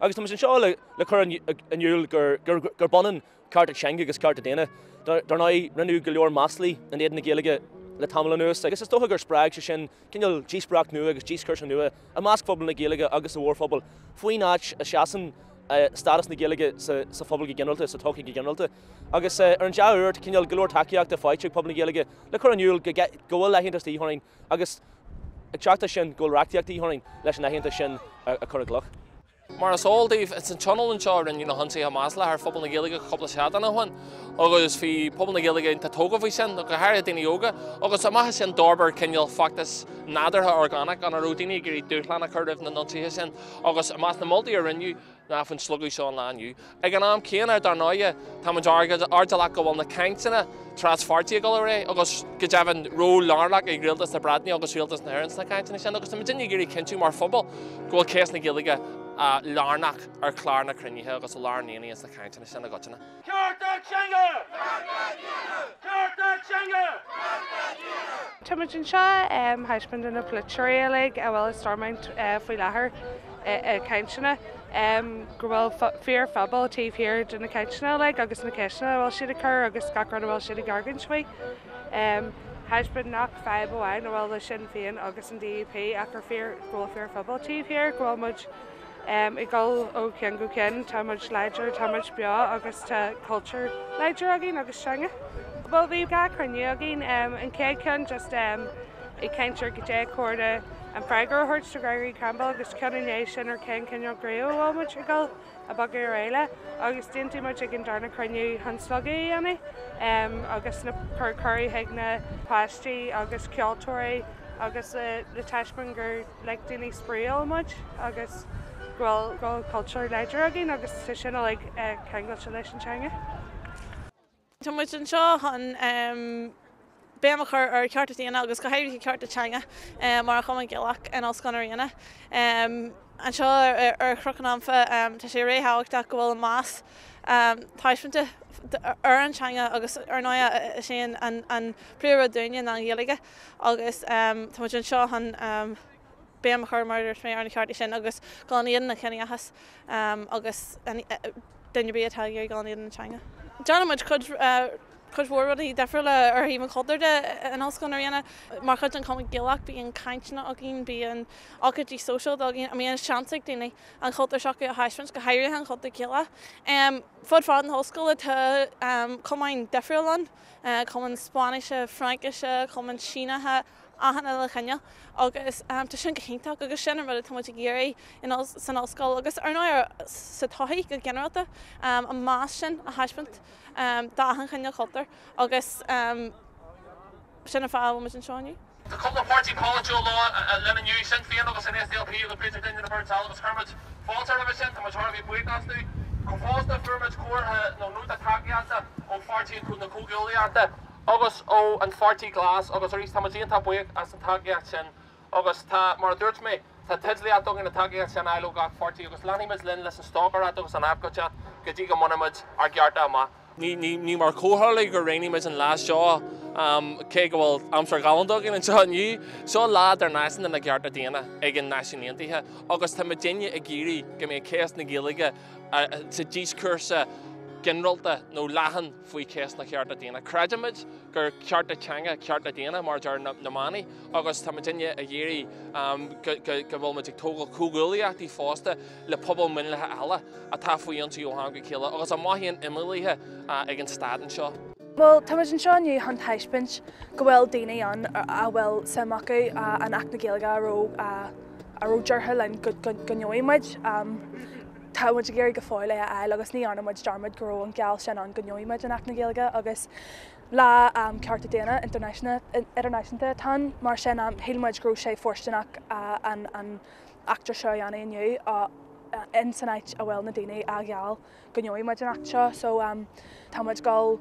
Agus tá muid anseo le cur in iúl gurb ionann cearta teanga agus cearta daonna. Dar ndóigh, rinneadh go leor maslaí in éadan na Gaeilge le tamall anuas agus is dócha gur spreag sé sin cineál díospóireacht nua agus díoscúrsa nua i measc phobal na Gaeilge agus sa mhórphobal faoin áit a seasann stádas na Gaeilge sa phobal go ginearálta, sa tsochaí go ginearálta. Agus ar an dea-uair, cineál go leor tacaíochta faighte ag pobal na Gaeilge le cur in iúl go bhfuil leithéid an Uí Choinín Agus ag teacht as sin, go bhfuil reachtaíocht de dhíth orainn leis an aitheantas sin a chur i gcloich. Mar is eol daoibh, ins an tionól seo a rinneadh na hionsaithe maslacha ar phobal na Gaeilge cúpla seachtain ó shin, agus bhí pobal na Gaeilge iontach tógha faoi sin, go háirithe daoine óga, agus amach as sin d'fhorbair cineál feachtas nádúrtha orgánach ina raibh daoine ag iarraidh dúshlán a chur roimh na hionsaithe sin, agus i measc na moltaí a rinneadh, ná an slógadh seo an lá inniu. Ag an am céanna, dar ndóighe, táimid airdeallach go bhfuil na cainteanna traspháirtí ag dul ar aghaidh agus, go deimhin, ról lárnach ag Rialtas na Breataine agus Rialtas na hÉireann sna cainteanna sin agus táimid ag iarraidh cinntiú mar phobal go bhfuil ceist na Gaeilge lárnach ar chlár na cruinnithe agus lár an aonaigh sna cainteanna sin i gcoitinne. Cearta Teanga! Cearta Teanga! Cearta Teanga! Cearta Teanga! Táimid anseo um thaispeáint do na polaiteoirí uilig a bhfuil i Stormont faoi láthair i gcainteanna, um go bhfuil fíor-phobal taobh thiar de na cainteanna uilig agus na ceisteanna a bhfuil siad ag cur agus gach rud a bhfuil siad ag argóint faoi. Um thaispeáint nach fadhb amháin a bhfuil le Sinn Féin agus an DUP ach gur fíor go bhfuil fíor-phobal taobh thiar, go bhfuil muid Ag dul ó cheann go ceann, tá muid láidir, tá muid beo agus tá cultúr láidir againn agus teanga. Bhuel bhí dhá chruinniú againn, an chéad cheann just ag caint ar goidé cóir dúinn freagra a thabhairt do Gregory Campbell agus ceann i ndiaidh sin ar cén cineál dóigh a bhfuil muid ag dul a bogadh ar aghaidh le agus d'aontaigh muid ag an darna chruinniú chun slógadh a dhéanamh agus a cur cuireadh chuig na páistí agus ceoltóirí agus le taispeáint gur like daoine spraíúil muid agus go bhfuil go bhfuil cultúr láidir againn agus tá sin uilig ceangailte leis an teanga. Tá muid anseo chun béim a chur ar chearta daonna agus go háirithe cearta teanga mar an Chumann Gaelach in Ollscoil na Ríona. Anseo ar Chnoc an Anfa tá sé ríthábhachtach go bhfuil meas taispeánta ar an teanga agus ar ndóigh is é an príomhrud dúinne ná an Ghaeilge. Agus tá muid anseo chun béim a chur mar a dúirt mé ar na cearta sin agus dul in éadan an chiníochais agus duine ar bith atá ag iarraidh dul in éadan na teanga. Déanann muid cuid cuid mhór rudaí difriúla ar thaobh an chultúir de in Ollscoil na Ríona. Mar chuid den Chumann Gaelach bíonn cainteanna againn, bíonn ócáidí sóisialta againn a mbíonn seans ag daoine an cultúr s'acu a thaispeáint, go háirithe an cultúr Gaelach. Fud fad na hollscoile tá cumainn difriúla ann. Cumann Spáinnise, Fraincise, Cumann Sínithe, achan uile chineál agus tá sin go hiontach agus sin an rud atá muid ag iarraidh san ollscoil agus ar ndóigh sa tsochaí go ginearálta, an meas sin a thaispeáint d'achan chineál cultúr agus sin an fáth a bhfuil muid anseo inniu. Tá cúpla páirtí polaitiúil linn inniu, Sinn Féin agus an SDLP agus b'fhéidir duine nó beirt eile agus chuir muid fáilte roimhe sin, tá muid thar a bheith buíoch astu. Fosta fuair muid comhartha nó nóta tacaíochta ó Pháirtí na Comhghuaillíochta agus ó An Pháirtí Glas agus arís tá muid iontach buíoch as an tacaíocht sin agus tá, mar a dúirt mé, tá teidlíocht againn an tacaíocht sin a fháil ó gach páirtí agus leanfaidh muid linn leis an stocaireacht agus an abhcóideacht go dtí go mbainfidh muid ár gcearta amach. Ní mar chomhtharlú gur roghnaigh muid an lá seo, cé go bhfuil aimsir ghalánta againn anseo inniu. Seo lá Idirnáisiúnta na gCearta Daonna ag na Náisiúin Aontaithe agus tá muid inniu ag iarraidh go mbeadh cás na Gaeilge sa díoscúrsa ginearálta nó leathan faoi chás na gcearta daonna. Creidimid gur cearta teanga cearta daonna mar a deir na manaí agus tá muid inniu ag iarraidh go bhfuil muid ag tógáil comhghuaillíochtaí fosta. le pobail mhionlaithe eile atá faoi ionsaí ó ham go chéile agus a mothaíonn imeallaithe ag an stát anseo. Bhuel, tá muid anseo inniu chun taispeáint go bhfuil daoine ann a bhfuil suim acu in Acht na Gaeilge a raibh ráite linn go ngeobhaidh muid. Tá muid ag iarraidh go fóill é a fháil agus ní dhearna muid dearmad go raibh an geall sin ann go ngeobhaidh muid an Acht na Gaeilge agus Lá um Cearta Daonna Idirnáisiúnta atá ann, mar sin shíl muid go raibh sé fóirsteanach an eachtra seo a dhéanamh inniu in san áit a bhfuil na daoine a gheall go ngeobhaidh muid an acht seo so tá muid ag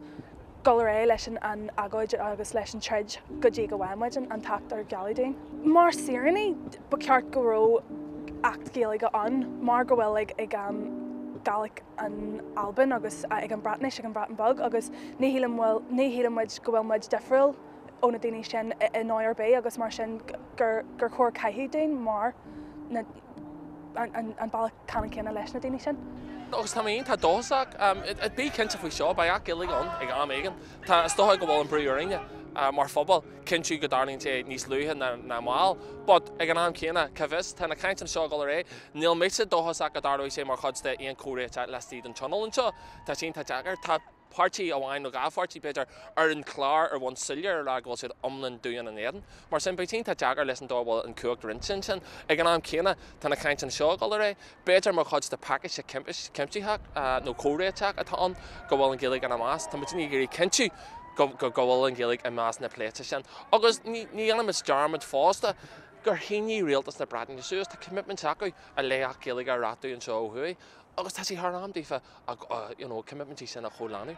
dul ar aghaidh leis an agóid agus leis an troid go dtí go bhfaighidh muid an t-acht ar gealladh dúinn. Mar saoránaigh ba cheart go raibh acht Gaeilge ann mar go bhfuil ag ag an Gaelic in Albain agus ag an Breatnais ag an Bhreatain Beag agus ní shíleann muid go bhfuil muid difriúil ó na daoine sin i ndóigh ar bith agus mar sin gur chóir caitheamh linn ar an bealach ceannann céanna leis na daoine sin. Agus tá mé féin, tá dóchasach bí cinnte faoi seo, beidh acht Gaeilge ann ag am éigin. Tá, is dócha, go bhfuil an brú orainne mar phobal cinntiú go dtarlaíonn sé níos luaithe ná moille. But, ag an am céanna, cá bhfios, tá na cainteanna seo ag dul ar aghaidh. Níl mise dóchasach go dtarlóidh sé mar chuid d'aon chomhréiteach laistigh den Tionól anseo. Tá sin tá deacair. Tá. páirtí amháin nó dhá pháirtí, b'fhéidir, ar an chlár ar bhonn soiléir a rá go bhfuil siad iomlán dubh in éadan. Mar sin, beidh sé iontach deacair leis an dóigh a bhfuil an chumhacht roinnte ansin. Ag an am céanna, tá na cainteanna seo ag dul ar aghaidh. B'fhéidir mar chuid de phacáiste cuimsitheach nó comhréiteach atá ann go bhfuil an Ghaeilge ina measc. Táimidne ag iarraidh cinntiú go bhfuil an Ghaeilge i measc na pléite sin. Agus ní dhéanfaimis dearmad fosta gur shínigh Rialtas na Breataine suas, tá coimitmint acu, le hAcht Gaeilge a reachtú anseo ó thuaidh. Agus tá sé thar am daofa, you know, coimitmintí sin a chomhlíonadh.